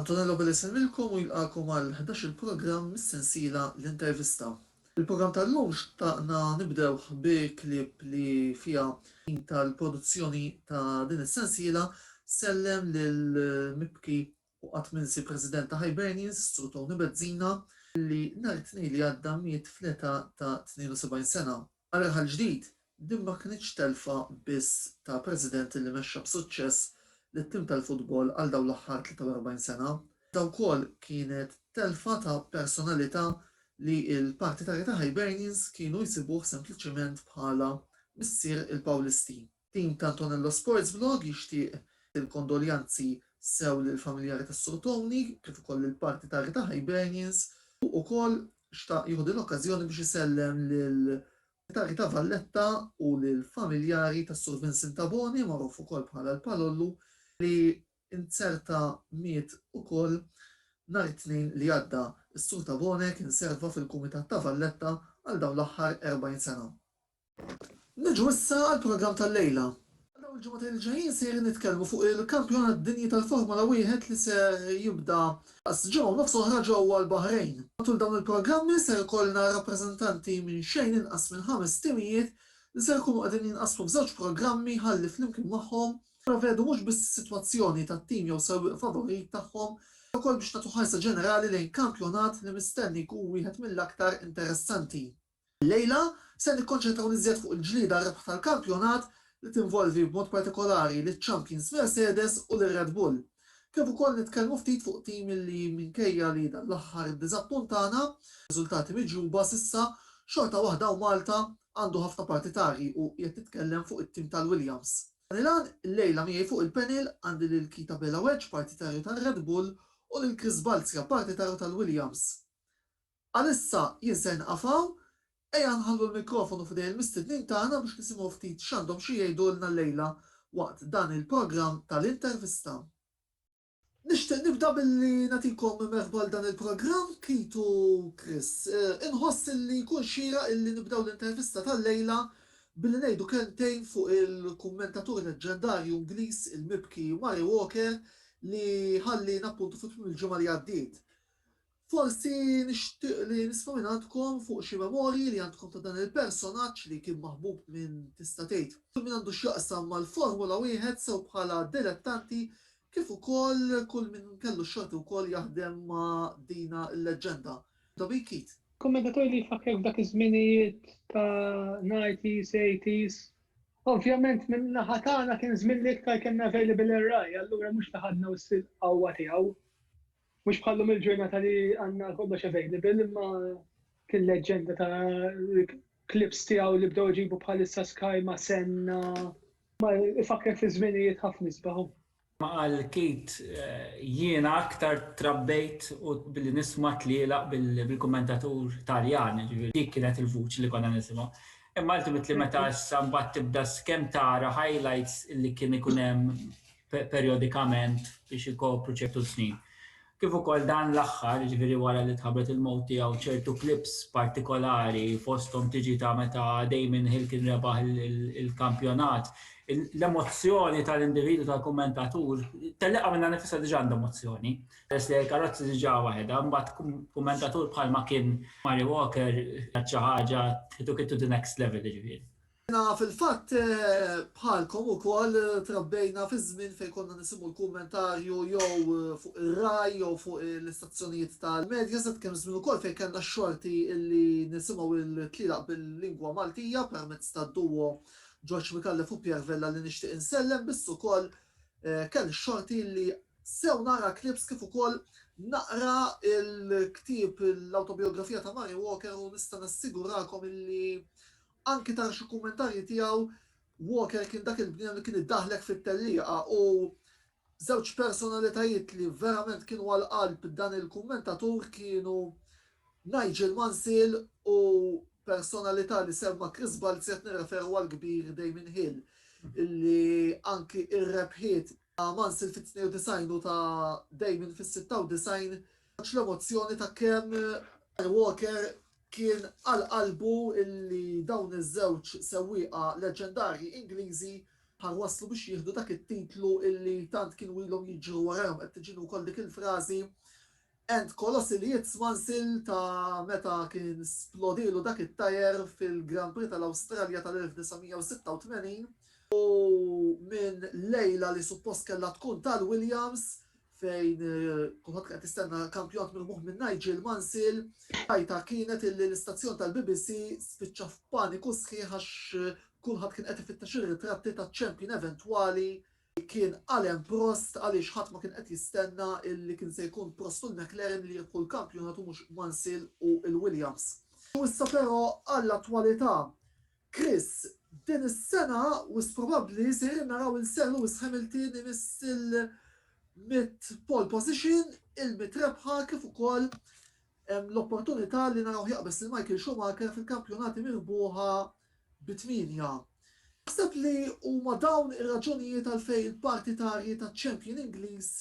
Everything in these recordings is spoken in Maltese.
Antonello Billi jsellmilkom u jilqagħkom għal ħdax-il programm mis-sensiela L-Intervista. Il-programm tal-lum xtaqna nibdewh bi clip li fiha min tal-produzzjoni ta' din is-sensiela sellem lil mibki U qatt m'insi President ta' Hibernians, Sur Tony Bezzina, li nhar it-Tnejn li għadda miet fl-età ta' 72 sena. Għal raħal ġdid, din ma kinitx telfa biss ta' President li mexxa b'suċċess lit-tim tal-futbol għal dawn l-aħħar 43 sena, iżda wkoll kienet telfa ta' personalità li l-partitarji ta' Hibernians kienu jsibuh sempliċement bħala missier il-Pawlisti. Tim t'Antonello Sports Vlog jixtieq il-kondoljanzi sew lill-familjari tas-Sur Tony kif ukoll lill-parti ta' Rita Hibernians u ukoll xtaq jieħu din l-okkażjoni biex isellem lil Rita Rita Valletta u lill-familjari tas-Sur Vincent Tabone magħruf ukoll bħala l-Palollu li nzerta miet ukoll nhar it-Tnejn li għadda. Is-Sur Tabone kien serva fil-Kumitat ta' Valletta għal dawn l-aħħar 40 sena. Niġu issa għall-programm tal-lejla. Dawn il-ġimgħatejn li ġejjin sejrin nitkellmu fuq il-Kampjonat Dinji tal-Formula Wieħed li ser jibda f'Qas Ġo u Nofs oħra ġewwa l-Baħrejn. Matul dawn il-programmi ser ikollna rappreżentanti minn xejn inqas minn ħames timijiet li ser ikunu qegħdin jinqasmu f'żewġ programmi ħalli flimkien magħhom nipprevedu mhux biss is-sitwazzjoni tat-tim jew sewwieq favorit tagħhom iżda wkoll biex nagħtu ħarsa ġenerali lejn kampjonat li mistenni jkun wieħed mill-aktar interessanti. Illejla se nikkonċentraw l-iżjed fuq il-ġlieda għar-rebħ tal-kampjonat li tinvolvi b'mod partikolari liċ-champions Mercedes u lir-Red Bull, kif ukoll nitkellmu ftit fuq tim li minkejja li dan l-aħħar iddiżappuntana b'riżultati miġjuba s'issa, xorta waħda u Malta għandu ħafna partitari u qiegħed nitkellem fuq it-tim tal-Williams. Dan il-għan, illejla miegħi fuq il-panel għandi lil Kita Belaweċ partitarju tar-Red Bull u lil Chris Balzia partitarju tal-Williams. Għalissa jien se nieqaf hawn. Ejja nħallu l-mikrofonu f'idejn il-mistednin tagħna biex nisimgħu ftit x'għandhom xi jgħidulna llejla waqt dan il-programm tal-intervista. Nixtieq nibda billi nagħtikom merħba għal dan il-programm, Keith u Chris. Inħoss illi jkun xieraq illi nibdew l-intervista tal-lejla billi ngħidu kelmtejn fuq il-kummentatur leġġendarju Ingliż, il-mibki Murray Walker li ħalliena appuntu fi tmiem il-ġimgħa li għaddiet. Forsi nixtieq li nisma' minn għandkom fuq xi memorji li għandkom ta' dan il-personaġġ li kien maħbub minn tista' tgħid kull min għandu x'jaqsam mal-Formula Wieħed sew bħala dilettanti kif ukoll kull min kellu x-xorti wkoll jaħdem ma' dina l-leġġenda, Tommy Keat. Kummentatur li jfakkrek f'dak iż-żminijiet ta' nighties, eighties. Ovvjament minn naħa tagħna kien żmien li iktar kellna available ir-Rai, allura mhux li ħadna wis il-qawwa tiegħu. Mhux bħal lum il-ġurnata li għandna kollox available imma kien leġġenda ta' klips tiegħu li bdew iġibu bħalissa Sky ma' Senna ma ifakkar fi żminijiet ħafna isbaħu. Ma qal Keith, jiena aktar trabbejt u billi nisma' tlielaq bil-kummentatur Taljan, jiġifieri dik kienet il-vuċi li konna nisimgħu. Imma ultimately meta issa mbagħad tibda skemm tara highlights li kien ikun hemm perjodikament biex ikopru ċertu snin. Kif ukoll dan l-aħħar, ġifieri wara li tħabbret il-mowt tiegħu ċertu klips partikolari fosthom tiġi ta' meta Damon Hill kien rebaħ il-kampjonat. L-emozzjoni tal-individu tal-kummentatur telliqa minn nifisha diġà għandha emozzjoni. Peress li l-karozzi diġà waħedha, mbagħad kummentatur bħalma kien Mary Walker xi ħaġa to the next level ġifieri. Jiena fil-fatt bħalkom ukoll trabbejna fi żmien fejn konna nisimgħu l-kummentarju jew fuq ir-RAI jew fuq l-istazzjonijiet tal-Mediaset, kien żmien ukoll fejn kellna x-xorti li nisimgħu l-tlielaq bil-lingwa Maltija permezz tad-duo Ġorġ Micallef u Pierre Vella li nixtieq insellem biss ukoll kelli x-xorti li sew nara clips kif ukoll naqra l-ktieb l-awtobijografija ta' Murray Walker u nista' nassigurakom li Anki ta' xi kummentarji tiegħu, Walker kien dak il-bniedem li kien iddaħħlek fit-tellieqa u żewġ personalitajiet li verament kienu għal qalb dan il-kummentatur kienu Nigel Mansell u personalità li semma Chris Balzi qed nirreferu għall-kbir Damien Hill li anki r-rebħiet ta' Mansell fit-92 u ta' Damien fis-96 ħareġ l-emozzjoni ta' kemm Walker Kien għal qalbu li dawn iż-żewġ sewwieqa leġġendarji Ingliżi ħa waslu biex jieħdu dak it-titlu li tant kienu ilhom jiġru warajhom. Qed tiġini wkoll dik il-frażi And Colossi li its once il ta' meta kien splodielu dak it-tyre fil-Grand Prix tal-Awstralja tal-1986 u minn lejla li suppost kellha tkun tal-Williams, fejn kulħadd qed tistenna kampjonat mirmuħ minn Nigel Mansil, tajta kienet illi l-istazzjon tal-BBC spiċċa f'paniku sħiħ għax kulħadd kien qed ifittex ir-ritratti taċ-champion eventwali kien Alain Prost għaliex ħadd ma kien qed jistenna illi kien se jkun Prost u l-McLaren li jirbħu l-kampjonat u mhux Mansil u l-Williams. U issa però għall-attwalità. Chris, Din is-sena wisq probabbli sejrin naraw il-Sir Lewis Hamilton imiss il-mitt pole position, il-mitt rebħa kif ukoll hemm l-opportunità li narawh jaqbeż lil Michael Schumacher fil-kampjonati mirbuħa bi tmienja. Taħseb li huma dawn ir-raġunijiet għalfejn il-partitarji taċ-champion Ingliż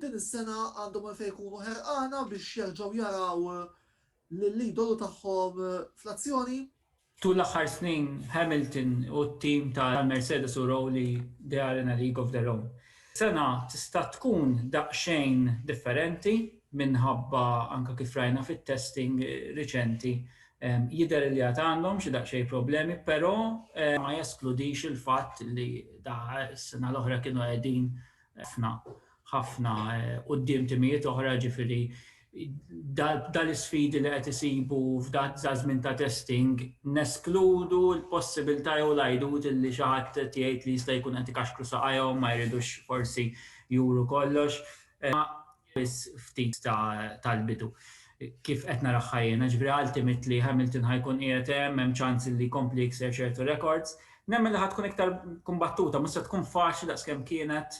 din is-sena għandhom għalfejn ikunu ħerqana biex jerġgħu jaraw lill-idolu tagħhom fl-azzjoni? Tul l-aħħar snin, Hamilton u t-tim ta' Mercedes urew li they are in a league of their own. Sena tista' tkun daqsxejn differenti minħabba anke kif rajna fit-testing riċenti jidher li għad għandhom xi daqsxejn problemi però ma jeskludix il-fatt li da s-sena l-oħra kienu qegħdin ħafna, ħafna quddiem timijiet oħra, jiġifieri dawn l-isfidi li qed isibu f'dan żmien ta' testing, neskludu l-possibilità jew l-għidut li xi ħadd qed jgħid li jista' jkun qed ikaxkru saqajhom, ma jridux forsi juru kollox. biss ftit tal-bidu. Kif qed naraha ħajjena, ġifieri għal timiet li Hamilton ħa jkun qiegħed hemm, hemm ċans li jkompli jikser ċertu rekords. Nemmen li ħa tkun iktar kumbattuta, mhux se tkun faċli daqskemm kienet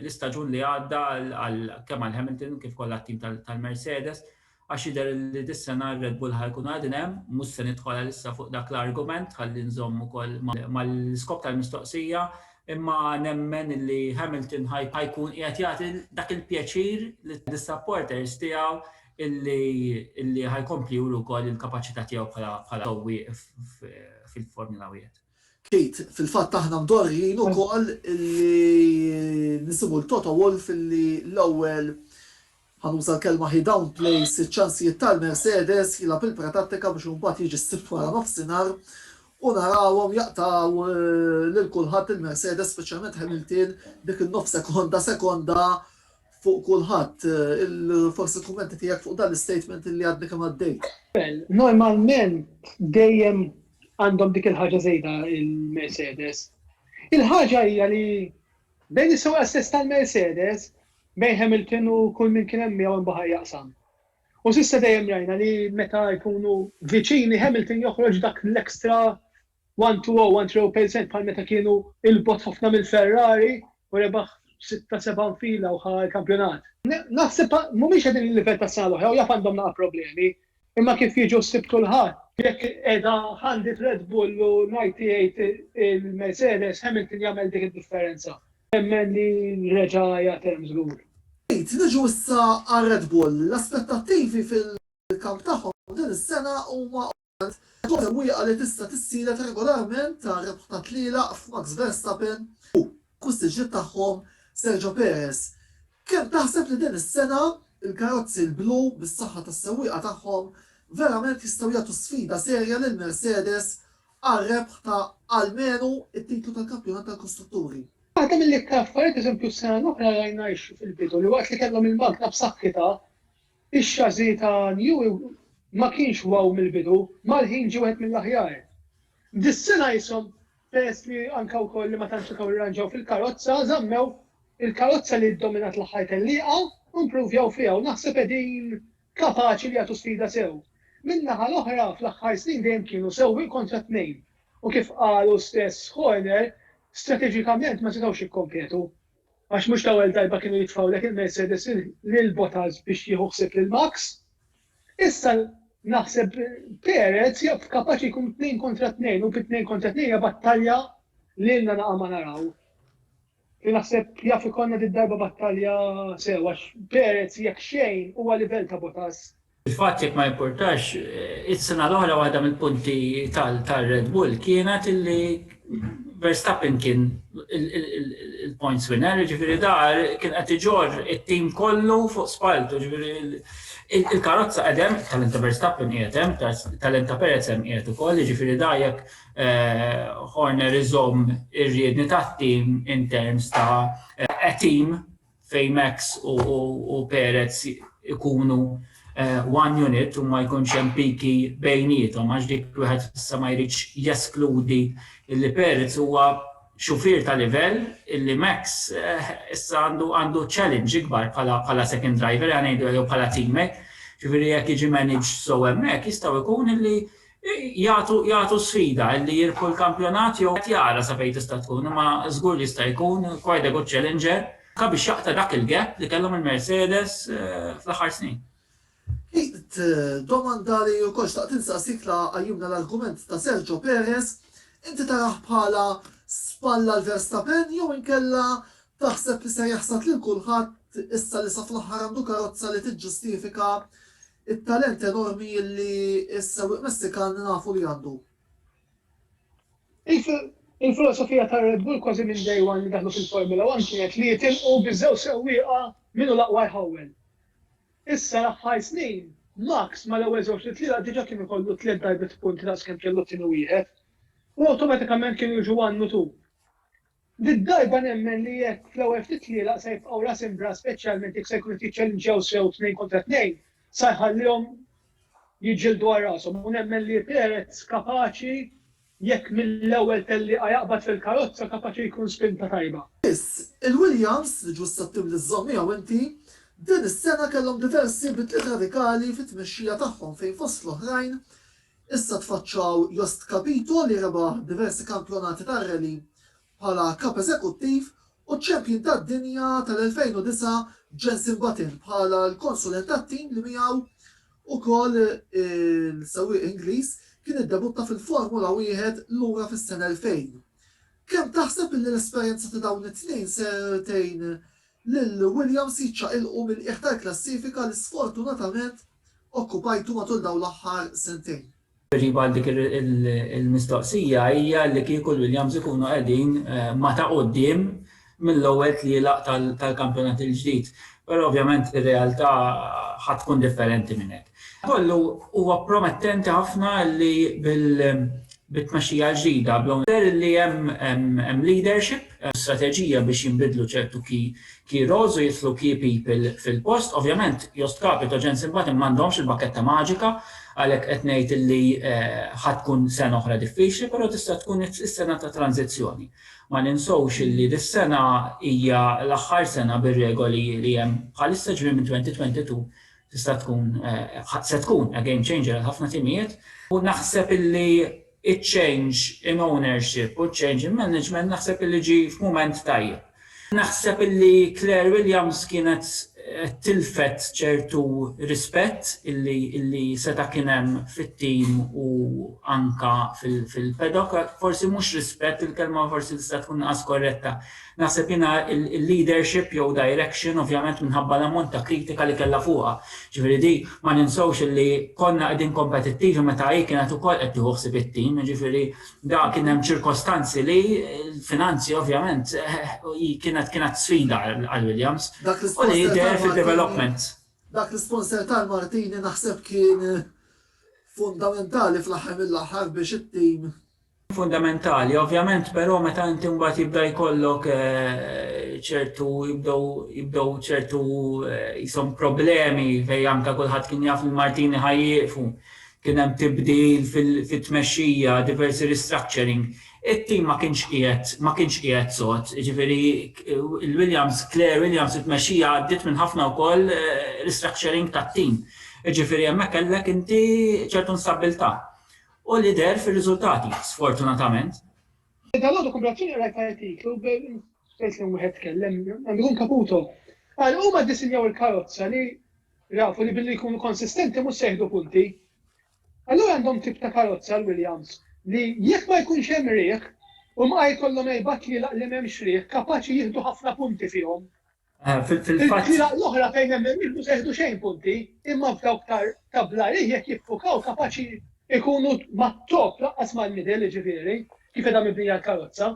l-istaġun li għadda għal kemm għal Hamilton kif ukoll għat-tim tal-Mercedes. Għax jidher li dis-sena r-Red Bull ħa jkunu qegħdin hemm, mhux se nidħol għalissa fuq dak l-argument ħalli nżomm ukoll mal-iskop tal-mistoqsija, imma nemmen li Hamilton ħa jkun qiegħed jagħti dak il-pjaċir lis-supporters tiegħu li ħa jkompli juri wkoll il-kapaċità tiegħu bħala sewwieq fil-Formula Wieħed. Kate, Fil-fatt aħna mdorrijin ukoll li nisimgħu 'l Toto Wolff li l-ewwel, ħa nuża l-kelma, he downplays iċ-ċansijiet tal-Mercedes, jilgħab il-pretattika biex imbagħad jiġi s-Sibt waranofsinhar u narawhom jaqtgħu lil kulħadd il-Mercedes, speċjalment Hamilton, dik in-nofs sekonda, sekonda, fuq kulħadd, forsi l-kummenti tiegħek fuq dan l-istatement li għadni kemm għaddejt. Normalment dejjem għandhom dik il-ħaġa żejda il-Mercedes. Il-ħaġa hija li bejn is-sewqa stess tal-Mercedes bejn Hamilton u kull min kien hemm miegħu imbaħar jaqsam. U s'issa dejjem rajna li meta jkunu viċini Hamilton joħroġ dak l-ekstra One two oh, one three oh percent bħal meta kienu 'il bogħod ħafna mill-Ferrari u rebaħ sitta seba' nfila u ħa l-kampjonat. Naħseb mhumiex qegħdin il-livell tas-sena l-oħra u jaf għandhom naqa' problemi, imma kif jiġu ħsieb kulħadd, jekk qiegħda għandi t-Red Bull u ngħid jgħid il-Mercedes, Hamilton jagħmel dik id-differenza. Nemmen li reġa' hija term żgur. Pete, niġu issa għar-Red Bull. L-aspettattivi fil-kamp tagħhom din is-sena huma Għaldaqstant, il-kawża mwiegħqa li tista' tissielet regolarment ta' rebħ ta' tlielaq f'Max Verstappen u kussiġġiet tagħhom Sergio Perez. Kemm taħseb li din is-sena l-karozzi l-blu, bis-saħħa tas-sewwieqa tagħhom, verament jistgħu jagħtu sfida serja lil Mercedes għal rebħ ta' almenu t-titlu tal-Kampjonat tal-Kostrutturi? Waħda mill-iktar affarijiet, pereżempju, s-sena l-oħra rajna x fil-bidu li waqt li kellhom il-magna b'saħħitha, Ix-chassis ta' New ma kienx wow mill-bidu, mal-ħin ġie wieħed mill-aħjar. Dis-sena qishom peress li anke wkoll li ma tantx setgħu jirranġaw fil-karozza, żammew il-karozza li ddominat l-aħħar tellieqa u impruvjaw fiha u naħseb qegħdin kapaċi li jagħtu sfida sew. Min-naħa l-oħra fl-aħħar snin dejjem kienu sewwieq kontra tnejn u kif qalu stess Horner, strateġikament ma setgħux jikkompetu. għax mhux l-ewwel darba kienu jitfgħulek il-Mercedes lil Bottas biex jieħu ħsieb lil Max. Issa naħseb Perez jaf kapaċi jkun tnejn kontra tnejn u bi tnejn kontra tnejn hija battalja li lna naqa' ma naraw. Li naħseb jaf ikollna darba battalja sewa Perez jekk xejn huwa livell ta' Bottas Fil-fatt jekk ma jimpurtax, is-sena l-oħra waħda mill-punti tar-Red Bull kienet illi Verstappen kien il-points winner, jiġifieri da kien qed iġorr it-tim kollu fuq spalltu, jiġifieri il-karozza qegħda hemm, it-talent ta' Verstappen qiegħed hemm, it-talent ta' Perez hemm qiegħed ukoll, jiġifieri da jekk Horner iżomm ir-riedni tat-tim in terms ta' a team fejn Max u Perez ikunu one unit u ma jkunx hemm piki bejniethom għax dik wieħed issa ma jridx jeskludi li Perez huwa xufier ta' livell illi Max issa għandu għandu challenge ikbar bħala bħala second driver għan ngħidu jew bħala teammate. Ġifieri jekk jiġi managed sew hemmhekk jistgħu jkun illi Jagħtu sfida li jirbħu l-kampjonat jew wieħed jara sa fejn tista' tkun imma żgur li jista' jkun quite a good challenger anke biex jaqta' dak il-gap li kellhom il-Mercedes fl-aħħar snin. Keith, domanda li wkoll xtaqt insaqsik la qajjimna l-argument ta' Sergio Perez, inti tarah bħala spall għal Verstappen jew inkella taħseb li ser jaħsad lil kulħadd issa li sa fl-aħħar għandu karozza li tiġġustifika It-talent enormi li s-sewwieq Messikan nafu li għandu. Il-filosofija ta' Red Bull kważi minn day one li daħlu fil-Formula One kienet li jitilqu bi żewġ sewwieqa min hu l-aqwa jħawwel. Issa l-aħħar snin, Max mal-ewwel żewġ li tlielaq diġà kien ikollu tliet darbiet punti daqs kemm kellu t-tieni wieħed u awtomatikament kienu jiġu one u two. Did-darba nemmen li jekk fl-ewwel ftit tlielaq se jibqgħu ras imb'ras speċjalment jekk se jkunu qed jiċċellinġjaw sew tnejn kontra tnejn, sa jħallihom jiġġieldu għal rashom u nemmen li Perez kapaċi jekk mill-ewwel tellieqa jaqbad fil-karozza kapaċi jkun spinta tajba. Biss, il-Williams, li ġust qed tibni żżomm miegħu inti, din is-sena kellhom diversi bidliet radikali fit-tmexxija tagħhom fejn fost l-oħrajn Issa tfaċċaw Jost Capito li rebaħ diversi kampjonati tar-rally bħala Kap Eżekuttiv u ċ-Champion tad-Dinja tal-2009 Jenson Button bħala l-konsulent tat-tim li miegħu wkoll il-sewwieq Ingliż kien iddebutta fil-Formula Wieħed lura fis-sena 2000. Kemm taħseb li l-esperjenza ta' dawn it-tnejn ser tgħin lil Williams jiċċaqilqu mill-qiegħ tal-klassifika li sfortunatament okkupajtu matul dawn l-aħħar sentejn. Tweġiba għal dik il-mistoqsija hija li kieku l-Williams ikunu qegħdin ma' ta' quddiem mill-ewwel tlielaq tal-kampjonat il-ġdid. Però ovvjament ir-realtà ħa tkun differenti minn hekk. Madankollu, huwa promettenti ħafna li bit-tmexxija l-ġdida, bl-Own It, jidher li hemm leadership u strateġija biex jinbidlu ċertu key roles u jidħlu key people fil-post. Ovvjament, Jost Capito, Jens Imbati m'għandhomx il-bakketta maġika, għalhekk qed ngħid li ħa tkun sena oħra diffiċli, però tista' tkun is-sena ta' tranżizzjoni. Ma ninsewx li dis-sena hija l-aħħar sena bir-regoli li hemm bħalissa, ġifieri minn 2022 tista' tkun se tkun a game changer għal ħafna timijiet u naħseb illi iċ-change in ownership u ċ-change in management naħseb illi ġie f'mument tajjeb. Naħseb illi Claire Williams kienet tilfet ċertu rispett illi illi seta' kien hemm fit-tim u anka fil-paddock, forsi mhux rispett il-kelma forsi tista' tkun inqas korretta, Naħseb jiena il-leadership jew direction ovvjament minħabba l-ammont ta' kritika li kellha fuqha. Jiġifieri di ma ninsewx illi konna qegħdin kompetittivi meta hi kienet ukoll qed tieħu ħsieb it-tim, jiġifieri da kien hemm ċirkostanzi li l-finanzi ovvjament hi kienet kienet sfida għal Williams u li deher fid-development. Dak l-isponsor tal-Martini naħseb kien fundamentali fl-aħħar mill-aħħar biex it-tim fundamentali. Ovvjament però meta inti mbagħad jibda jkollok ċertu jibdew jibdew ċertu jisom problemi fej anke kulħadd kien jaf li Martini ħajjieqfu. Kien hemm tibdil fit-tmexxija, diversi restructuring. It-tim ma kienx qiegħed ma kienx qiegħed sod, jiġifieri il-Williams, Claire Williams it-tmexxija għaddiet minn ħafna wkoll restructuring tat-tim. Jiġifieri hemmhekk kellek inti ċertu instabbiltà. U li deher fir-riżultati, sfortunatament. Dalgħodu Kumbratini qrajt artiklu fejn kien wieħed tkellem, għandu jkun Caputo, qal huma ddisinjaw il-karozza li rafu li billi jkunu konsistenti mhux se jieħdu punti. Allura għandhom tip ta' karozza l-Williams li jekk ma jkunx hemm riħ, huma jkollhom erba' tlielaq li m'hemmx riħ kapaċi jieħdu ħafna punti fihom. Ah, fil-fatt. L-oħra fejn hemm il-milħu seħdu xejn punti, imma f'dawk ta' blarih jekk jiffukaw kapaċi ikunu mat-top laqqas mal-midel ġifieri, kif edha mibnija l-karozza.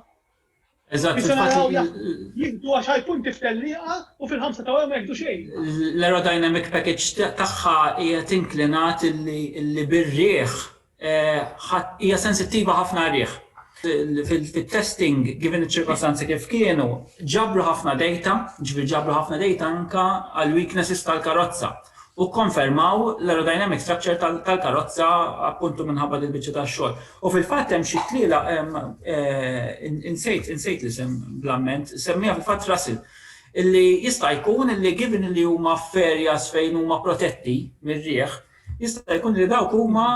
Eżatt. Biex naraw jieħdu għax punti f'tellieqa u fil-ħamsa ta' ma jieħdu xejn. L-aerodynamic package tagħha hija tinklinat li birriħ hija sensittiva ħafna għar-riħ. Fit-testing, given iċ-ċirkostanzi kif kienu, ġabru ħafna dejta, jiġifieri ġabru ħafna dejta anke għall-weaknesses tal-karozza u kkonfermaw l-aerodynamic structure tal-karozza appuntu minħabba din biċċa tax-xogħol. U fil-fatt hemm xi tliela insejt insejt l-isem bl-amment, semmiha fil-fatt Russell, illi jista' jkun illi given illi huma f'areas fejn huma protetti mir-riħ, Jista' jkun li dawk huma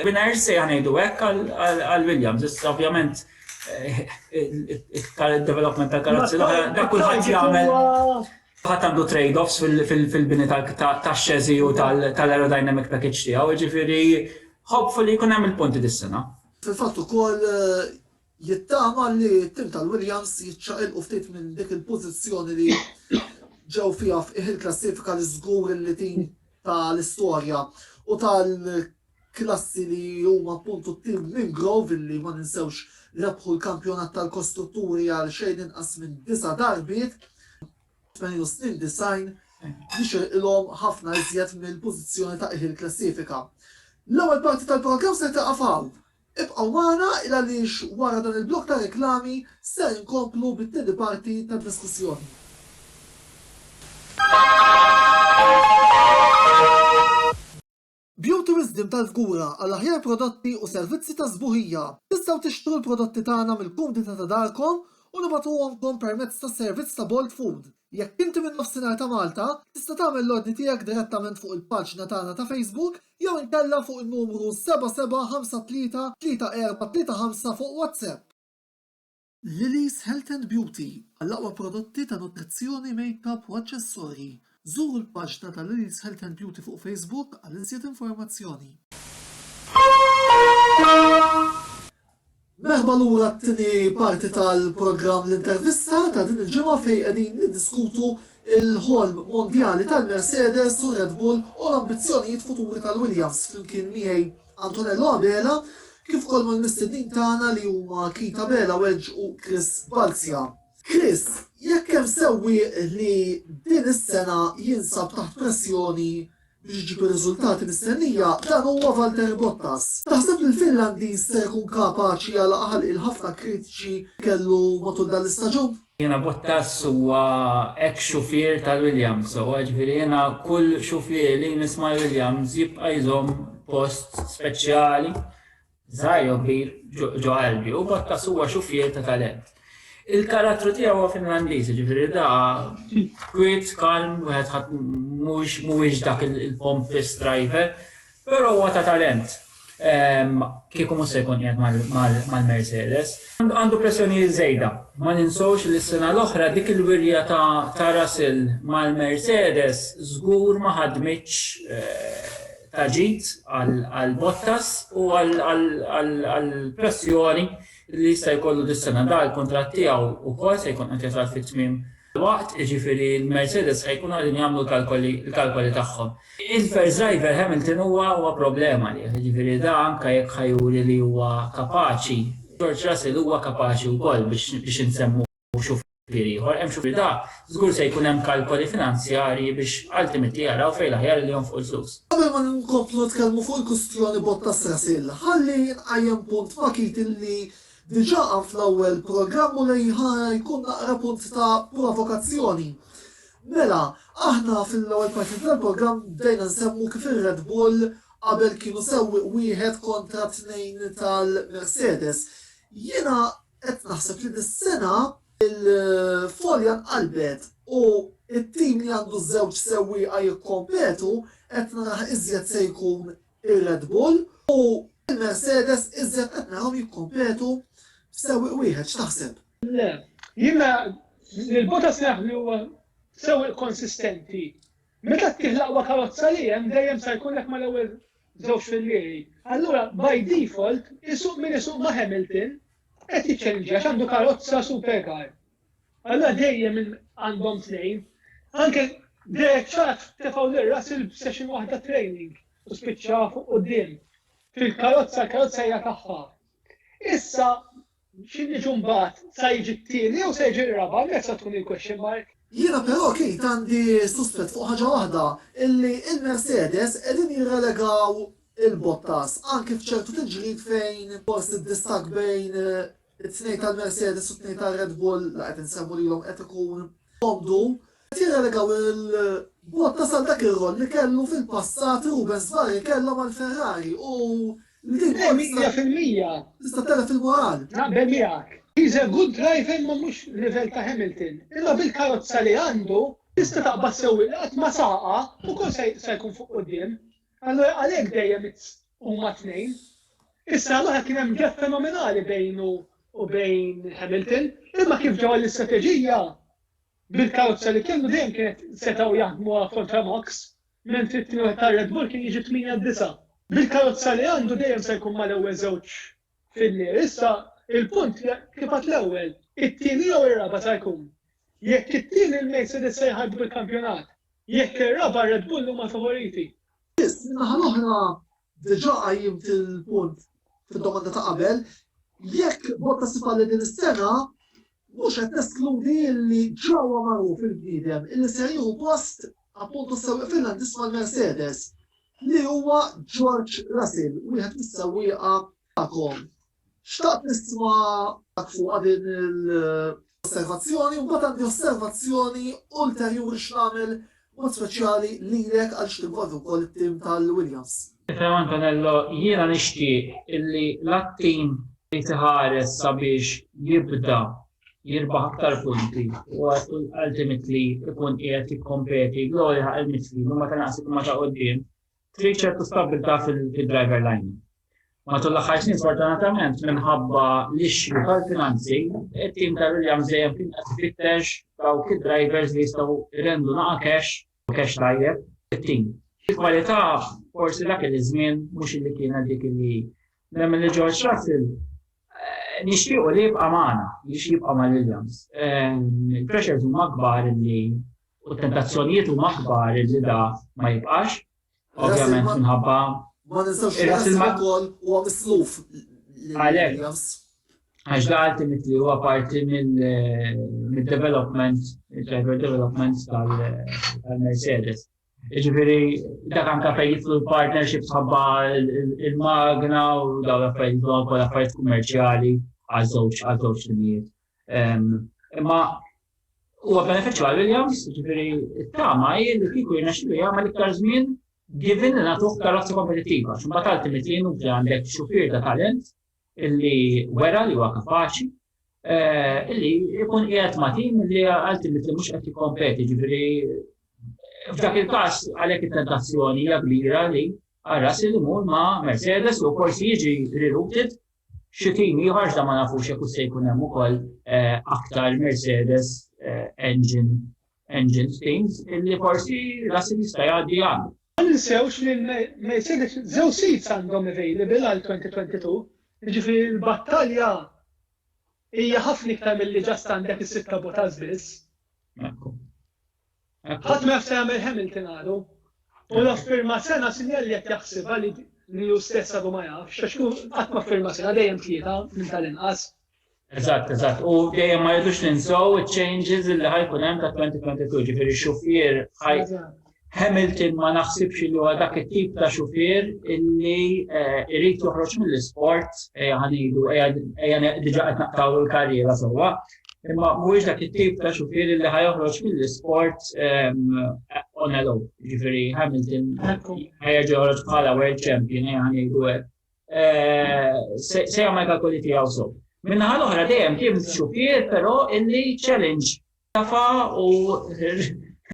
winners se ngħidu hekk għal Williams. Issa ovvjament il-development tal-karozzi dak kulħadd jagħmel ħadd għandu trade-offs fil-bini tax-xeżi u tal-aerodynamic package tiegħu, jiġifieri hopefully jkun hemm il-punti dis-sena. Fil-fatt ukoll Jittama li t-tim tal-Williams jiċċaqilqu ftit minn dik il-pożizzjoni li ġew fiha f'qiegħ il-klassifika li żgur li din ta' l-istorja u tal-klassi li huma appuntu t-tim minn Grove li ma ninsewx rebħu l-kampjonat tal-kostrutturi għal xejn inqas minn disa' darbiet tmenin u snin disgħin jixirqilhom ħafna iżjed mill-pożizzjoni ta' qiegħ il-klassifika. L-ewwel parti tal-programm ser tieqaf hawn. Ibqgħu magħna il-għaliex wara dan il-blokk ta' reklami ser inkomplu bit-tieni parti tad-diskussjoni. Beauty Wisdom tal-Fgura għal aħjar prodotti u servizzi ta' sbuħija. Tistgħu tixtru l-prodotti tagħna mill-kumdità ta' darkom u nibagħtuhomkom permezz tas-servizz ta' Bolt Food. Jekk inti minn Nofsinhar ta' Malta, tista' tagħmel l-ordni tiegħek direttament fuq il-paġna tagħna ta' Facebook jew inkella fuq in-numru 77533435 fuq WhatsApp. Lily's Health and Beauty, Għall-aqwa prodotti ta' nutrizzjoni, makeup u aċċessorji, żuru l-paġna ta' Lily's Health and Beauty fuq Facebook għal iżjed informazzjoni. Merħba lura għat-tieni parti tal-programm L-Intervista ta' din il-ġimgħa fejn qegħdin niddiskutu l-ħolm mondjali tal-Mercedes u Red Bull u l-ambizzjonijiet futuri tal-Williams flimkien miegħi Antonello Abela kif ukoll mal-mistednin tagħna li huma Keith Abela Wedge u Chris Balzia. Chris, jekk hemm sewwieq li din is-sena jinsab taħt pressjoni biex iġib ir-riżultati mistennija, dan huwa Valtteri Bottas. Taħseb li l-Finlandiż ser ikun kapaċi jagħlaq ħalq il-ħafna kritiċi kellu matul dan l-istaġun? Jiena Bottas huwa ex xufier tal-Williams sewwa, ġifieri jiena kull xufier li jmiss mal-Williams jibqa' jżomm post speċjali. Żgħir jew kbir, ġo qalbi, hu b'għatta suwa xuffietta ta' lent. Il-karattru tiegħu huwa Finlandiż, jiġifieri da kwiet, kalm, wieħed ħadd mhuwiex dak il-pompist driver, però huwa ta' talent. Ehm, kieku mhux se jkun qiegħed mal-Mercedes. Għandu pressjoni żejda. Ma ninsewx li s-sena l-oħra dik il-wirja ta' Russell mal-Mercedes żgur ma ħadmitx eh, ta' ġid għal Bottas u għall-pressjoni li jista' jkollu dis-sena. Dan il-kuntratt tiegħu wkoll se jkun qed jasal fi tmiem waqt, jiġifieri l-Mercedes se jkunu qegħdin jagħmlu l-kalkoli tagħhom. Il-first driver Hamilton huwa problema għalih, jiġifieri da anke jekk ħa juri li huwa kapaċi, George Russell huwa kapaċi wkoll biex insemmuh. u xufier ieħor, hemm xufier ta' żgur se jkun hemm kalkoli finanzjarji biex ultimately jaraw fejn l-aħjar li jonfqu l-flus. Qabel ma nkomplu nitkellmu fuq il-kustjoni b'mod ta' sensiela, ħalli nqajjem punt ma' Keating li diġà qam fl-ewwel programm u li ħa jkun naqra punt ta' provokazzjoni. Mela, aħna fil-ewwel parti tal-programm bdejna nsemmu kif ir-Red Bull qabel kienu sewwieq wieħed kontra tnejn tal-Mercedes. Jiena Qed naħseb li dis-sena l-Folja nqalbet u t-tim li għandu ż-żewġ sewwieqa jikkompetu qed narah iżjed se jkun ir-Red Bull u l-Mercedes iżjed qed narahom jikkompetu f'sewwieq wieħed. X'taħseb? Le. Jiena lil Bottas naf li huwa sewwieq konsistenti Meta ttih l-aqwa karozza li hemm, dejjem sa jkun hekk mal-ewwel żewġ fil-liej. Allura, by default, isuq min isuq ma' Hamilton, qed jiċċellinġja għax għandu karozza supercar. Allura dejjem minn għandhom tnejn. Anke Derek Chath tefgħu lil Russell b'session waħda training u spiċċa fuq quddiem. Fil-karozza, l-karozza hija tagħha. Issa, Xi niġu mbagħad, sa jiġi t-tieni jew se jiġi r-raba', hemmhekk sa tkun il-question mark. Jiena però Keith għandi suspett fuq ħaġa waħda, illi il-Mercedes qegħdin jirrelegaw il-Bottas, anki f'ċertu tiġrid fejn forsi d-distakk bejn it-tnejn tal-Mercedes u t-tnejn tar-Red Bull, la qed insemmu lilhom qed ikun Obdu, qed jirrelegaw il-Botta sa dak ir-roll li kellu fil-passat Rubens Barri kellha mal-Ferrari u li din ukoll tista' Mija fil-mija. tista' telef il-moral. Naqbel miegħek. He's a good driver imma mhux livell ta' Hamilton. Imma bil-karozza li għandu, tista' taqbad sewwieq li qatt ma saqa u kol se se jkun fuq quddiem. Allura għalhekk dejjem it's huma tnejn. Issa l-oħra kien hemm gap fenomenali bejn u u bejn Hamilton, imma kif ġew għall-istrateġija, bil-karozza li kellu dejjem kienet setgħu jaħdmuha kontra Max, mentri t-tieni wieħed tar-Red Bull kien jiġi tmienja disa'. Bil-karozza li għandu dejjem se jkun mal-ewwel żewġ fil-leer, issa il-punt hija kif għad l-ewwel, it-tieni jew ir-raba' sa jkun. Jekk it-tieni l-Mercedes se jħarrbu bil-kampjonat, jekk ir-raba' r-Red Bull huma l-favoriti. Biss, min-naħa l-oħra, Diġà qajjimt il-punt fid-domanda ta' qabel, jekk b'mod ta' sifa li din is-sena mhux qed neskludi li ġa huwa magħruf il-bniedem illi ser jieħu post appuntu s-sewwieq Finlandiż mal-Mercedes, li huwa George Russell, wieħed mis-sewwieqa tagħkom. Xtaqt nisma'k fuqha din l-osservazzjoni u mbagħad għandi osservazzjoni ulterjuri x'nagħmel b'mod speċjali lilek għaliex tinvolvi wkoll it-tim tal-Williams. Tifhem Antonello, jiena nixtieq illi la t-tim irid iħares sabiex jibda jirbaħ aktar punti u ultimately jkun qiegħed jikkompeti jew jilħaq il-mixli u meta naqas ikun ma' ta' quddiem, Trid ċertu stabbiltà fid-driver lining. Matul l-aħħar snin sfortunatament minħabba l-ixxu tal-finanzi, it-tim ta' Williams dejjem kien qed ifittex dawk id-drivers li jistgħu jrendu naqa' cash u cash tajjeb it-tim. Il-kwalità forsi dak iż-żmien mhux illi kienet dik illi nemmen li George Russell eh, nixtiequ li jibqa' magħna, jiex jibqa' ma' Williams. Eh, il-pressures huma kbar illi U t-tentazzjonijiet huma aħbar li da ma jibqax, ovvjament minħabba. Ma ninsewx li ras il-mal ukoll huwa misluf lill-Williams. Għax da ultimately huwa parti mill-development, il-driver development tal-Mercedes. Ġifieri dak anke fejn jitlu l-partnership ħabba il-magna u dawn l-affarijiet dawn ukoll affarijiet kummerċjali għaż-żewġ għaż-żewġ timijiet. Imma huwa benefiċċju għal Williams, ġifieri t-tama hi li kieku jirnexxilu jagħmel iktar żmien given li nagħtuh karozza kompetittiva. X'imbagħad għalti mitlin u għandek xufier ta' talent illi wera li huwa kapaċi eh, illi jkun qiegħed ma' tim li għalti mitlin mhux qed jikkompeti, ġifieri f'dak il-każ għalhekk it-tentazzjoni hija kbira li għarras il mur ma' Mercedes u forsi jiġi rerouted Xi tim ieħor, iżda ma nafux jekk hux se jkun hemm ukoll aktar Mercedes engine engines teams illi forsi Russell jista' jgħaddi għandu. Ma ninsewx li Mercedes żewġ seats għandhom available għal 2022, jiġifieri l-battalja hija ħafna iktar milli just għandek is-sitta botas biss. Ekku. Ħadd ma jaf se jagħmel Hamilton għadu. U law firma sena sinjal li qed jaħsibha li hu stess għadu ma jafx, għax hu qatt ma firma sena dejjem tlieta minn tal-inqas. Eżatt, eżatt. U dejjem ma jridux ninsew iċ-changes li ħajkun hemm ta' 2022, ġifieri xufier Hamilton ma naħsibx li huwa dak it-tip ta' xufier illi eh, irid joħroġ mill-isport ejja ħanidu ejja diġà qed naqtaw il-karriera sewwa. Imma mhuwiex dak it-tip ta' xufier li ħa joħroġ mill-isport on a low. Ġifieri Hamilton ħajġi joħroġ bħala world champion ejja ngħidu hekk. Se jagħmel kalkoli tiegħu sew. Minnaħa l-oħra dejjem kien xufier però illi challenge tafa u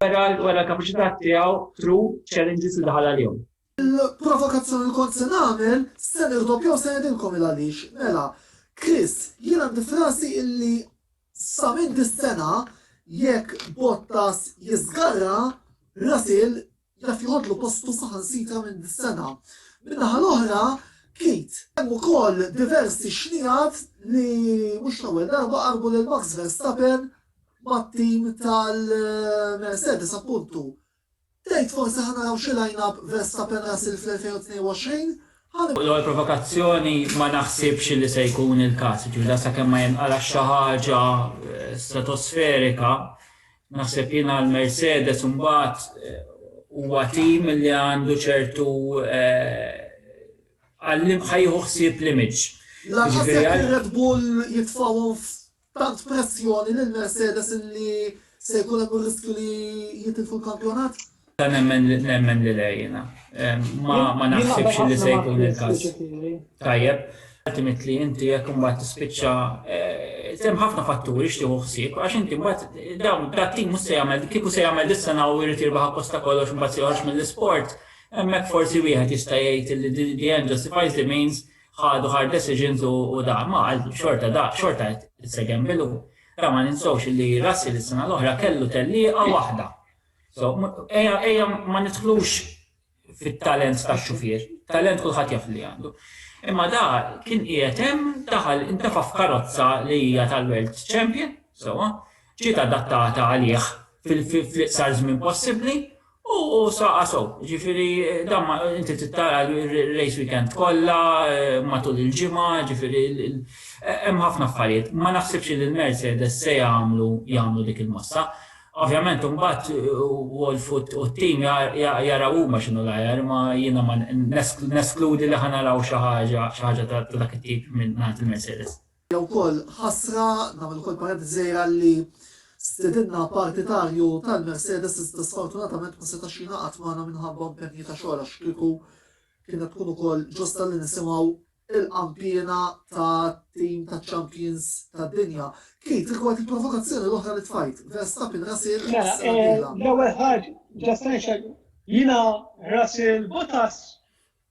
wera l-kapaċità tiegħu through challenges li daħal għalihom. Il-provokazzjoni li kont se nagħmel, se nirdoppja u se ngħidilkom il-għaliex. Mela, Chris, jien għandi f'rasi illi sa minn dis-sena jekk Bottas jiżgarra, Russell jaf joħodlu postu saħansitra minn dis-sena. Min-naħa l-oħra, Keat. Hemm ukoll diversi xnigħat li mhux l-ewwel darba qarbu lil Max Verstappen mat-tim tal-Mercedes appuntu. Tgħid forsi ħa naraw xi line-up Verstappen-Russell fl-2022? Ħa. L-ewwel provokazzjoni ma naħsibx li se jkun il-każ, jiġifieri dan sakemm ma jinqalax xi ħaġa stratosferika. Naħseb jien għal Mercedes imbagħad huwa tim li għandu ċertu għal ħa jieħu ħsieb l-image. Lanqas jekk ir-Red Bull jitfgħuhom Taħt pressjoni lil Mercedes li se jkun hemm ir-riskju li jitilfu l-kampjonat? Nemmen li le jiena. Ma naħsibx li se jkun il-każ. Tajjeb, ultimately inti jekk imbagħad tispiċċa hemm ħafna fatturi x'tieħu ħsieb għax inti mbagħad dawn dat-tim mhux se jagħmel kieku se jagħmel dis-sena u jrid jirbaħ appost ta' kollox imbagħad se joħroġ mill-isport, hemmhekk forsi wieħed jista' jgħid li the end justifies the means ħadu hard decisions u da, imma għal xorta da, xorta qed se gamble u ra ma ninsewx li Russell is-sena l-oħra kellu tellieqa waħda. So, ejja ejja ma nidħlux fit-talent tax-xufier, talent kulħadd jaf li għandu. Imma da kien qiegħed hemm daħal intefa' f'karozza li hija tal-World Champion, sewwa, ġiet adattata għalih fil-iqsar żmien possibbli U saqa' sew, jiġifieri dan ma inti trid tara r-race weekend kollha, matul il-ġimgħa, jiġifieri hemm ħafna affarijiet. Ma naħsibx li l-Mercedes se jagħmlu jagħmlu dik il-mossa. Ovvjament imbagħad Wolff u t-tim jaraw huma x'inhu l-aħjar, imma jiena ma neskludi li ħa naraw xi ħaġa xi ħaġa ta' dak it-tip mingħand il-Mercedes. Hija wkoll ħasra, nagħmel ukoll parentesi żgħira, li stedinna partitarju tal-Mercedes iżda sfortunatament ma setax jingħaqad magħna minħabba impenji ta' xogħol għax kieku kienet tkun ukoll ġusta li nisimgħu il-qanpiena tat-tim taċ-champions tad-dinja. Keith, rigward il-provokazzjoni l-oħra li tfajt, Verstappen Russell Mela, eh, l-ewwel ħaġa, ġa se jiena Russell Bottas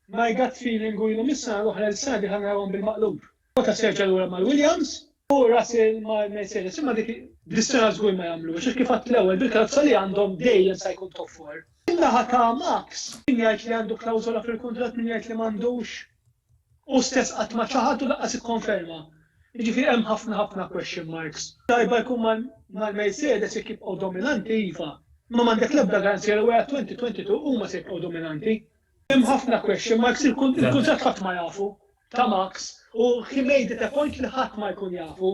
My gut feeling u ilhom is-sena l-oħra lil sena d-dieħla narahom bil-maqlub. Bottas jerġa' lura mal-Williams u Russell mal-Mercedes imma dik dis-sena żgur ma jagħmluhiex għax kif għadt l-ewwel bil-karozza li għandhom dejjem sa jkun top four. Min-naħa ta' Max, min jgħid li għandu klawżola fil-kuntratt min jgħid li m'għandux? Hu stess qatt ma ċaħad u lanqas ikkonferma. Jiġifieri hemm ħafna ħafna question marks. Tajba jkun mal-Mercedes jekk jibqgħu dominanti iva, imma m'għandek l-ebda garanzija li wara 2022 huma se jibqgħu dominanti. Hemm ħafna question marks, il-kuntratt ħadd ma jafu ta' Max u he made it a point li ħadd ma jkun jafu.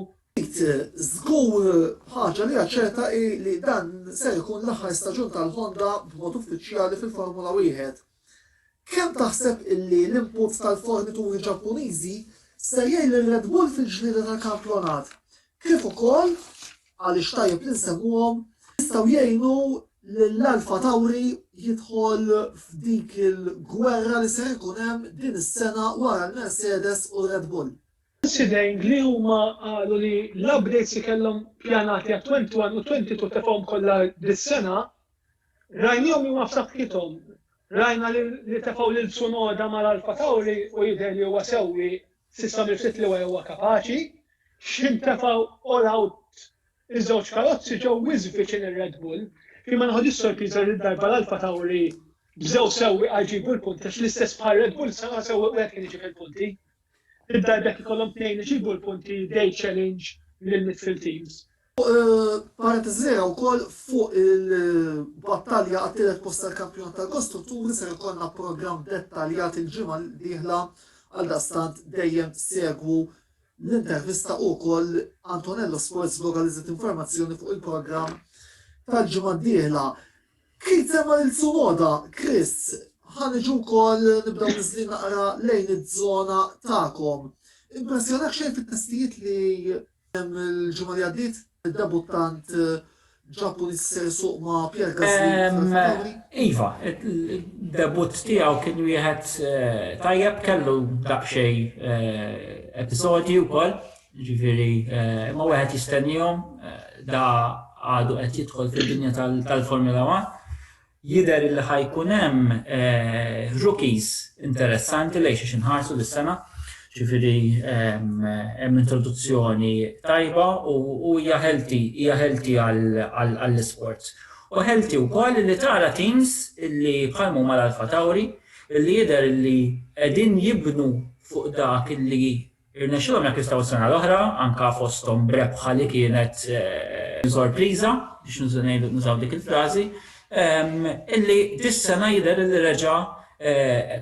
Żgur ħaġa li hija ċerta hi li dan ser ikun l-aħħar staġun tal-Honda b'mod uffiċjali fil-Formula Wieħed. Kemm taħseb illi l-input tal-fornituri Ġappuniżi ser jgħin lil Red Bull fil-ġlieda tal-kampjonat? kif ukoll, għaliex tajjeb li nsemmuhom, jistgħu jgħinu lil Alpha Tauri jidħol f'dik il-gwerra li ser ikun hemm din is-sena wara l-Mercedes u r-Red Bull. Sideng li huma qalu li l-updates li kellhom pjanati għat-21 u 22 tefgħuhom kollha dis-sena, rajnihom li huma f'saħħithom. Rajna li tefgħu lil Tsunoda mal-Alpha Tauri u jidher li huwa sewwi S'issa m'irsiet li wara huwa kapaċi, x'ħin tefgħu all out iż-żewġ karozzi ġew wisq viċin ir-Red Bull, kien ma neħodhiex sorpriża li dil-darba l-Alfa Tauri bżew sewwieqa jġibu l-punti għax l-istess bħal Red Bull sena sewwieq wieħed kien iġib il-punti. Dil-darba jekk ikollhom tnejn iġibu l-punti they challenge lill-midfield teams. Parentesi wkoll fuq il-battalja għat-tielet post tal-Kampjonat tal-Kostrutturi ser ikollna programm dettaljat il-ġimgħa d-dieħla għaldaqstant dejjem segwu l-intervista u wkoll Antonello Sports Blog għal iżjed informazzjoni fuq il-programm tal-ġimgħa d-dieħla. Kif semma lil Sumoda, Chris, ħaniġu wkoll nibdew niżli naqra lejn iż-żona tagħkom. Impressjonak xejn fit-testijiet li Il-ġimgħa li għaddiet, id-debuttant Ġappuniż se jsuq ma' Pierre Gasly fl-Alfa Tauri. Iva, id-debutt tiegħu kien wieħed tajjeb, kellu daqsxejn episodji wkoll, jiġifieri imma wieħed jistennihom, da għadu qed jidħol fid-dinja tal-Formula One. Jidher li ħa jkun hemm rookies interessanti lejn xiex inħarsu dis-sena, ġifieri hemm introduzzjoni tajba u hija healthy, hija healthy għall-isports. U healthy wkoll li tara teams li bħalma huma l-Alfa Tauri li jidher li qegħdin jibnu fuq dak li Irnexxilhom jakkwistaw is-sena l-oħra, anke fosthom b'rebħa li kienet sorpriża, biex nużaw dik il-frażi, illi dis-sena jidher illi reġa'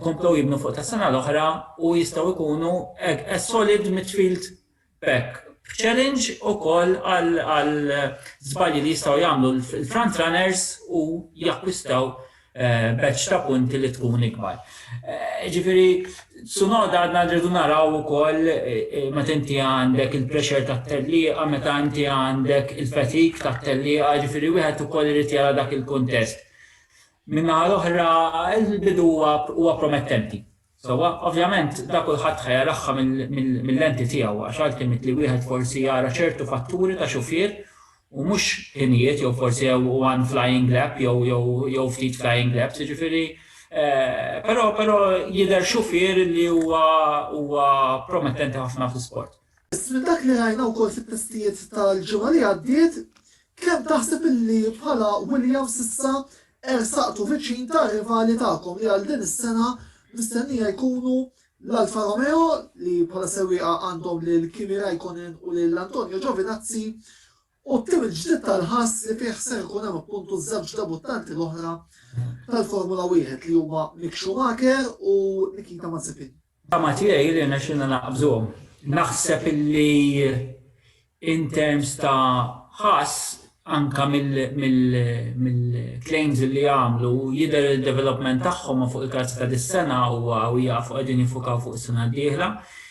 komplew jibnu fuq tas-sena l-oħra u jistgħu jkunu as solid midfield pack b'challenge ukoll għal żbalji li jistgħu jagħmlu l-front runners u jakkwistaw batch ta' punti li tkun ikbar. Jiġifieri Tsunoda għadna rridu naraw ukoll meta inti għandek il-pressure tat-tellieqa, meta inti għandek il-fatigue tat-tellieqa, jiġifieri wieħed ukoll irid jara dak il-kuntest. Min-naħa l-oħra, il-bidu huwa promettenti. Sewwa, ovvjament, da kulħadd ħa jarahha mil-lenti tiegħu, għax għalkemm mit li wieħed forsi jara ċertu fatturi ta' xufier u mhux ħinijiet jew forsi jew one flying lap jew jew jew ftit flying laps, jiġifieri però però jidher xufier li huwa huwa promettenti ħafna fl-isport. Iżda minn dak li rajna wkoll fit-testijiet tal-ġimgħa li għaddiet, kemm taħseb illi bħala Williams s'issa ersaqtu viċin tar-rivali tagħkom li għal din is-sena mistennija jkunu l-Alfa Romeo li bħala sewwieqa għandhom lil Kimi Raikkonen u lil Antonio Giovinazzi u t-tim il-ġdid tal-ħass li fih ser ikun hemm appuntu ż-żewġ debuttanti l-oħra tal-Formula Wieħed li huma Mick Schumacher u Nikita Mazepin. Tama tiegħi li rnexxilna naqbżuhom. Naħseb illi in terms ta' ħass anke mill-claims li għamlu jidher li d-development tagħhom fuq il-karzi ta' dis-sena huwa u jafu qegħdin jiffukaw fuq is-sena d-dieħla.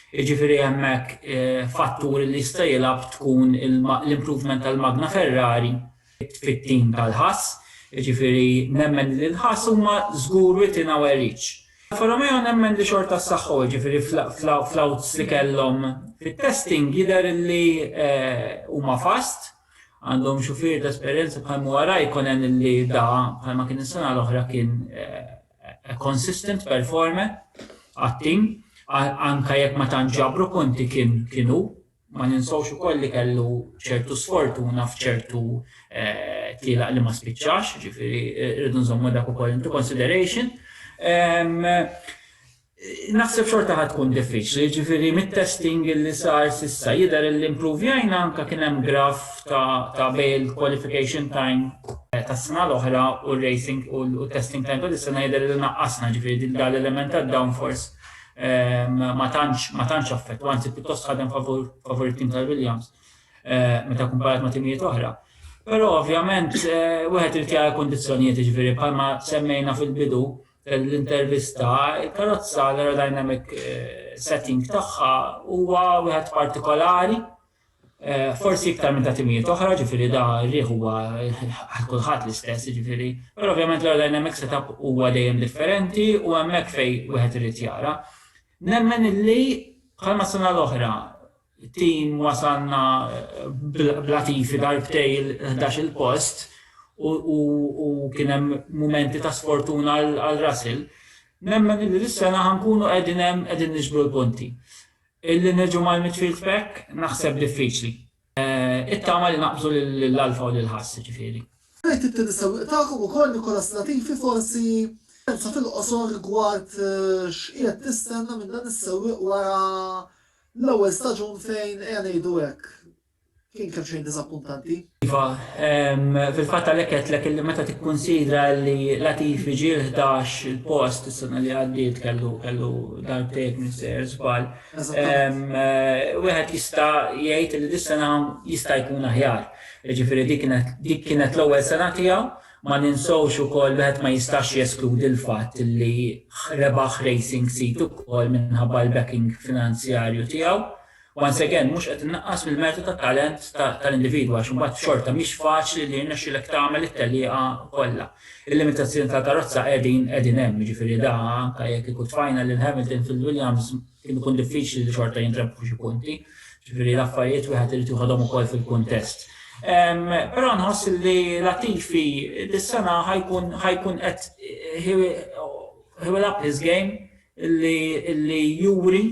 Jiġifieri hemm hekk fattur li jista' jilgħab tkun l-improvement tal-magna Ferrari fit-tim tal-Haas. Jiġifieri nemmen li l-Haas huma żgur within our reach. Alfa Romeo nemmen li xorta ssaħħu, jiġifieri fl-outs li kellhom fit-testing jidher li huma fast, għandhom xufier ta' esperjenza bħal Muwa Raikkonen li da, bħalma kien is-sena l-oħra kien a consistent performer għat-tim anke jekk ma tantx ġabru punti kien hu. Ma ninsewx ukoll li kellu ċertu sfortuna f'ċertu tlielaq li ma spiċċax, ġifieri rridu nżommu dak ukoll into consideration. Naħseb xorta ħa tkun diffiċli, jiġifieri mit-testing li sar s'issa jidher illi impruvjajna anke kien hemm graph ta' bejn il-qualification time tas-sena l-oħra u r-racing u t-testing time ta' dis-sena jidher illi naqqasna, jiġifieri dan l-element tad-downforce ma tantx ma tantx affettwa, anzi pjuttost ħadem favur it-tim tal-Williams meta kkumparat ma' timijiet oħra. Però ovvjament wieħed irid jara l-kundizzjonijiet, jiġifieri bħalma semmejna fil-bidu, l-intervista, il-karozza, l-aerodynamic setting tagħha huwa wieħed partikolari, forsi iktar minn ta' timijiet oħra, ġifieri da rieħ huwa għal kulħadd l-istess, ġifieri, però ovvjament l-aerodynamic setup huwa dejjem differenti u hemmhekk fejn wieħed irid jara. Nemmen illi bħalma s-sena l-oħra It-tim wasalna b'Latifi darbtej il-ħdax-il post u kien hemm mumenti ta' sfortuna għal Russell. Nemmen illi dis-sena ħa nkunu qegħdin hemm qegħdin niġbru l-punti. Illi niġu mal-midfield pack naħseb diffiċli. It-tama li naqbżu lil Alfa u lil Haas jiġifieri. Rajt it-tieni sewwieq tagħkom ukoll Nicholas Latifi forsi pensa fil-qosor rigward x'qiegħed tistenna minn dan is-sewwieq wara L-ewwel staġun fejn, ejja ngħidu hekk, kien kemmxejn diżappuntanti. Iva, fil-fatt għalhekk għedtlek illi meta tikkunsidra illi Latifi ġie l-ħdax il-post is-sena li għaddiet kellu kellu darbtejn minn sejjer żball. Wieħed jista' jgħid illi dis-sena jista' jkun aħjar. Jiġifieri dik kienet l-ewwel sena tiegħu Ma ninsewx ukoll wieħed ma jistax jeskludi l-fatt li rebaħ Racing Seat ukoll minħabba l-backing finanzjarju tiegħu. Once again, mhux qed innaqqas mill-mertu tat-talent tal-individwu għax imbagħad xorta mhix faċli li jirnexxilek tagħmel it-tellieqa kollha. Il-limitazzjoni tal-karozza qegħdin qegħdin hemm, jiġifieri da anke jekk ikut tfajna lil Hamilton fil-Williams, Kien ikun diffiċli li xorta jintrebħu xi punti, ġifieri l-affarijiet wieħed irid joħodhom ukoll fil-kuntest. Però nħoss li Latifi dis-sena ħajkun ħajkun qed he will up his game li juri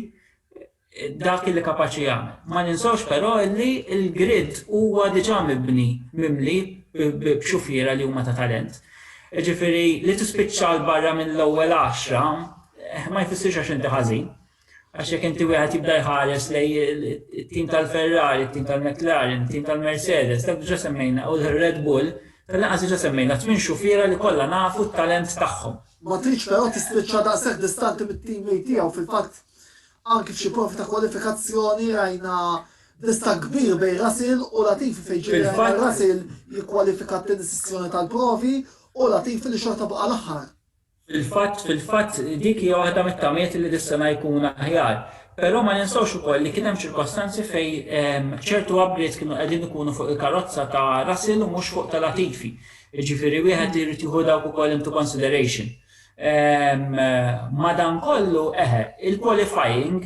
dak li kapaċi jagħmel. Ma ninsewx però li l-grid huwa diġà mibni mimli b'xufiera li huma ta' talent. Jiġifieri li tispiċċa 'l barra mill-ewwel għaxra Eh, ma jfissirx għax inti ħażin. Għax jekk inti wieħed jibda jħares lej it-tim tal-Ferrari, it-tim tal-McLaren, it-tim tal-Mercedes, dak diġà semmejna u l-Red Bull, tal-laqas diġà semmejna tmien xufiera li kollha nafu t-talent tagħhom. Ma tridx però tispiċċa daqshekk distanti mit-tim li tiegħu fil-fatt anki f'xi profi ta' kwalifikazzjoni rajna dista kbir bej Rasil u Latifi fejn ġiri Rasil jikkwalifika t-tieni sessjoni tal-provi u Latifi li xorta baqa' l-aħħar. Fil-fatt, fil-fatt, dik hija waħda mit-tamiet li dis-sena jkun aħjar. Però ma ninsewx ukoll li kien hemm ċirkostanzi fejn ċertu abbriet kienu qegħdin ikunu fuq il-karozza ta' Russell u mhux fuq ta' Latifi. Jiġifieri wieħed irid jieħu dawk ukoll into consideration. Madankollu, eħe, il-qualifying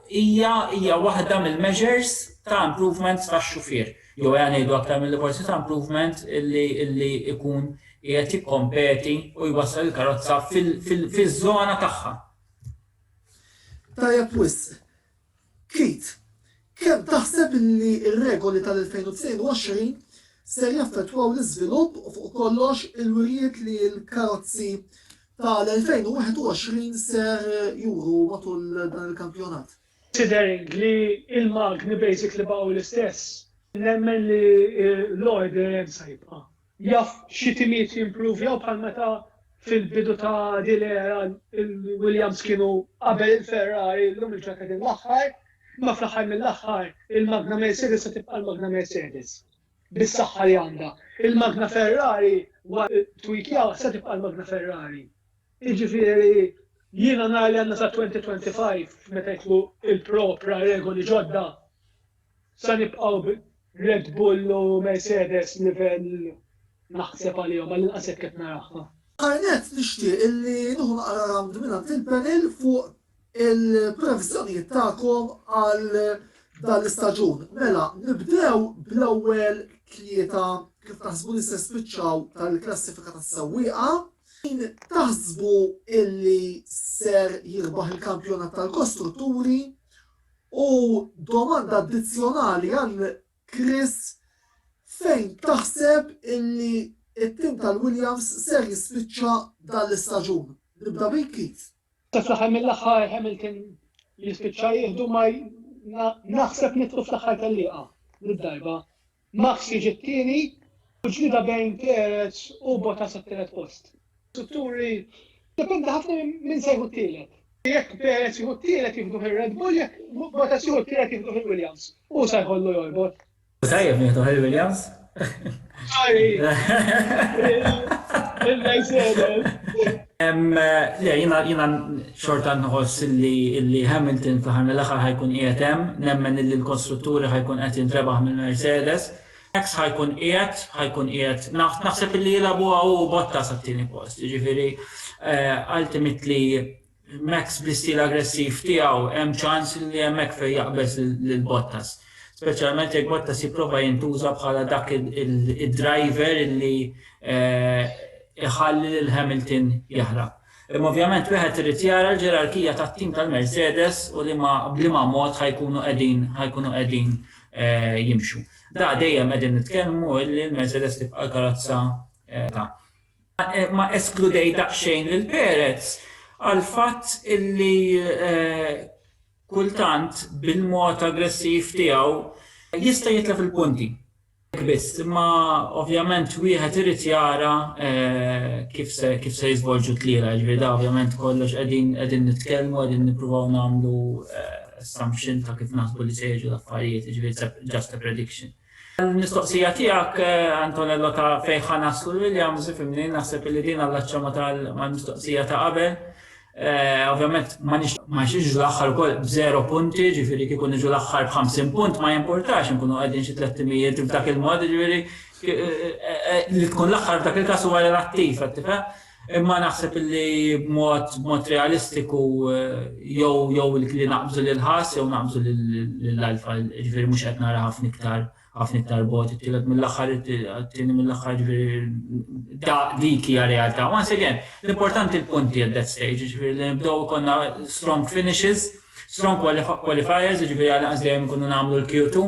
hija waħda mill-measures ta' improvements tax-xufier. jew ejja ngħidu aktar milli forsi ta' improvement, li jkun qiegħed jikkompeti u jwassal il-karozza fiż-żona tagħha. Tajjeb wisq. Keith, kemm taħseb li r-regoli tal-2022 ser jaffettwaw l-iżvilupp u fuq kollox il-wirjiet li l-karozzi tal-2021 ser juru matul dan il-kampjonat? Tidher li l-magni basically baqgħu l-istess. Nemmen li l-għodd dejjem se jibqa'. Jaf xi timiet jimpruvjaw bħal meta fil-bidu ta' din l-era l-Williams kienu qabel il-Ferrari llum il-ġurnata qegħdin l-aħħar, imma fl-aħħar mill-aħħar il-magna Mercedes se tibqa' l-magna Mercedes bis-saħħa li għandha. Il-magna Ferrari wara t-tweakjar se tibqa' l-magna Ferrari. Jiġifieri, jiena nar li għandna sat-2025 meta jidħlu il-propra regoli ġodda, sa nibqgħu b' Red Bull u Mercedes livell naħseb għalihom, għall-inqas hekk qed naraha. Fl-aħħar nett nixtieq illi nieħu naqra rawnd mingħand il-panel fuq il-previżjonijiet tagħkom għal dan l-istaġun. Mela, nibdew bl-ewwel tlieta kif taħsbu li se spiċċaw tal-klassifika tas-sewwieqa. Min taħsbu illi ser jirbaħ il-kampjonat tal-kostrutturi u domanda addizzjonali għal Chris fejn taħseb illi it-tim tal-Williams ser jispiċċa dan l-istaġun. Nibda bik Keith. Ta' fl-aħħar mill-aħħar Hamilton jispiċċa jieħdu ma naħseb nidħlu fl-aħħar tellieqa did-darba. Max jiġi t-tieni u ġlieda bejn Perez u Bottas għat-tielet post. Strutturi dependi ħafna minn se jieħu t-tielet. Jekk Perez jieħu t-tielet jieħduh ir-Red Bull, jekk Bottas jieħu t-tielet jieħduh il-Williams. Hu se jħollu jorbot. Tajjeb nieħdu Harry Williams. Harry! Il-Mercedes! Le, jina xorta nħoss li Hamilton fl-ħar mill-aħħar ħajkun qiegħed hemm, nemmen li l-kostrutturi ħajkun qed jintrebaħ mill-Mercedes. Max ħajkun qiegħed, ħajkun qiegħed. Naħseb li jilagħbuha hu u Bottas għat-tieni post. Jiġifieri, ultimately, Max bl-istil aggressiv tiegħu hemm ċans li hemmhekk fejn jaqbeż lil Bottas. Speċjalment jekk Bottas jipprova jintuża bħala dak id-driver li jħalli lil Hamilton jaħrab. Imma ovvjament wieħed irid jara l-ġerarkija tat-tim tal-Mercedes u liema b'liema mod ħa jkunu qegħdin ħa jkunu qegħdin jimxu. Da dejjem qegħdin nitkellmu illi l-Mercedes tibqa' l-karozza ta' ma eskludejt daqsxejn lil Perez għall-fatt li kultant bil-mod aggressiv tiegħu jista' jitlef il-punti. Hekk biss, imma ovvjament wieħed irid jara kif se kif se jiżvolġu t-tlielaq, jiġifieri dan ovvjament kollox qegħdin qegħdin nitkellmu qegħdin nippruvaw nagħmlu assumption ta' kif naħsbu li se jiġu l-affarijiet, jiġifieri it's just a prediction. Għall-mistoqsija tiegħek, Antonello, ta' fejn ħa naslu l-Williams, ifhimni, naħseb illi din allaċċja mal-mistoqsija ta' qabel. Ovvjament ma nixtieqx l-aħħar ukoll b'żero punti, ġifieri kieku niġu l-aħħar b'ħamsin punt ma jimpurtax inkunu qegħdin xi tlett timijiet f'dak il-mod, jiġifieri li tkun l-aħħar f'dak il-każ huwa relattiv, qed tifhem? Imma naħseb li b'mod b'mod realistiku jew jew li naqbżu lill-ħass jew naqbżu lill-alfa, jiġifieri mhux qed nara ħafna iktar ħafna iktar bogħod it-tielet mill-aħħar it-tieni mill-aħħar jiġifieri da dik hija realtà. Once again, l-importanti l-punti at that stage, jiġifieri li nibdew ikollna strong finishes, strong qualifiers, jiġifieri għal inqas dejjem ikunu nagħmlu l-Q2.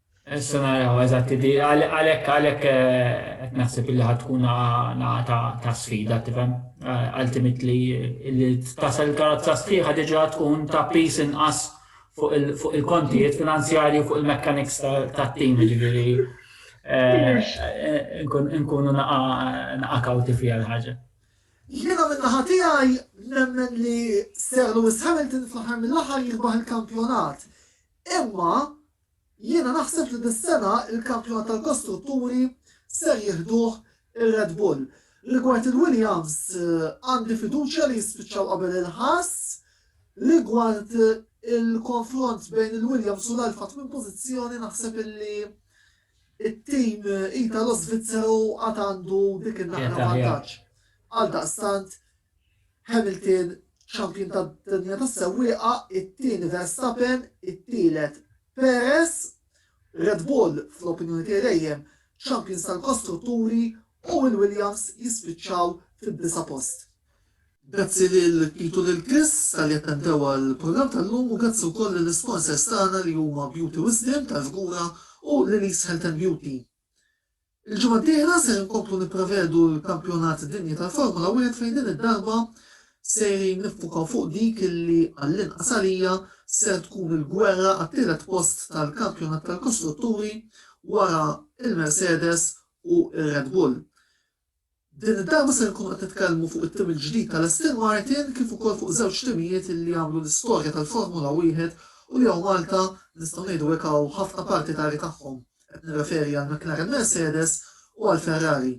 Issa naraw eżatti di għalhekk għalhekk qed naħseb illi ħad tkun nagħata ta' sfida tifhem. Ultimately li tasal il-karozza sħiħa diġà tkun ta' piż inqas fuq il-kontijiet finanzjarji u fuq il-mechanics tat-tim jiġifieri nkunu naqa' kawti fiha l-ħaġa. Jiena minn naħa tiegħi nemmen li Sir Lewis Hamilton fl-aħħar mill-aħħar jirbaħ il-kampjonat. Imma Jiena naħseb li dis-sena l-kampjonat tal-kostrutturi ser jieħduh ir-Red Bull. Rigward il-Williams għandi fiduċja li jispiċċaw qabel il-ħass. Rigward il-konfront bejn il-Williams u l-Alfa tmien pożizzjoni naħseb illi it-tim Italo-Svizzeru għad għandu dik in-naqra vantaġġ. Għaldaqstant Hamilton, Champion tad-Dinja tas-Sewwieqa, it-tieni Verstappen, it-tielet Perez, Red Bull, fl-opinjoni tiegħi dejjem, Champions tal-Kostrutturi u l-Williams jispiċċaw fid-disa' post. Grazzi lil Pete u lil Chris talli attendew għall-programm tal-lum u grazzi wkoll lill-isponsors tagħna li huma Beauty Wisdom tal-Fgura u Lili's Health and Beauty. Il-ġimgħa d-dieħla ser inkomplu nipprevedu l-Kampjonat Dinji tal-Formula Wieħed fejn din id-darba sejrin niffukaw fuq dik li, għall-inqas għalija, ser tkun il-gwerra għat-tielet post tal-Kampjonat tal-Kostrutturi wara l-Mercedes u r-Red Bull. Din id-darba ser inkunu qed nitkellmu fuq it-tim il-ġdid tal-Aston Martin kif ukoll fuq żewġ timijiet li għamlu l-istorja tal-Formula Wieħed u li hawn Malta nistgħu ngħidu hekk hawn ħafna partitari tagħhom, qed nirreferi għal McLaren Mercedes u għal Ferrari.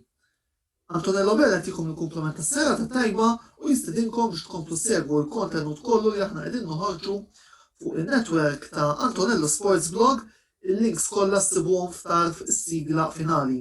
Antonello Bell jagħtikom il-kumpliment tas-serata t-tajba u jistidinkom biex tkomplu ssegwu l-kontenut kollu li aħna qegħdin noħorġu fuq in-network ta' Antonello Sports Blog, il-links kollha ssibuhom f'tarf is-sigla finali.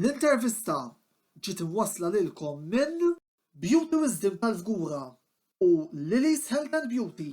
L-intervista ġiet imwassla lilkom minn. Beauty Wisdom tal-Fgura u Lili's Health and Beauty.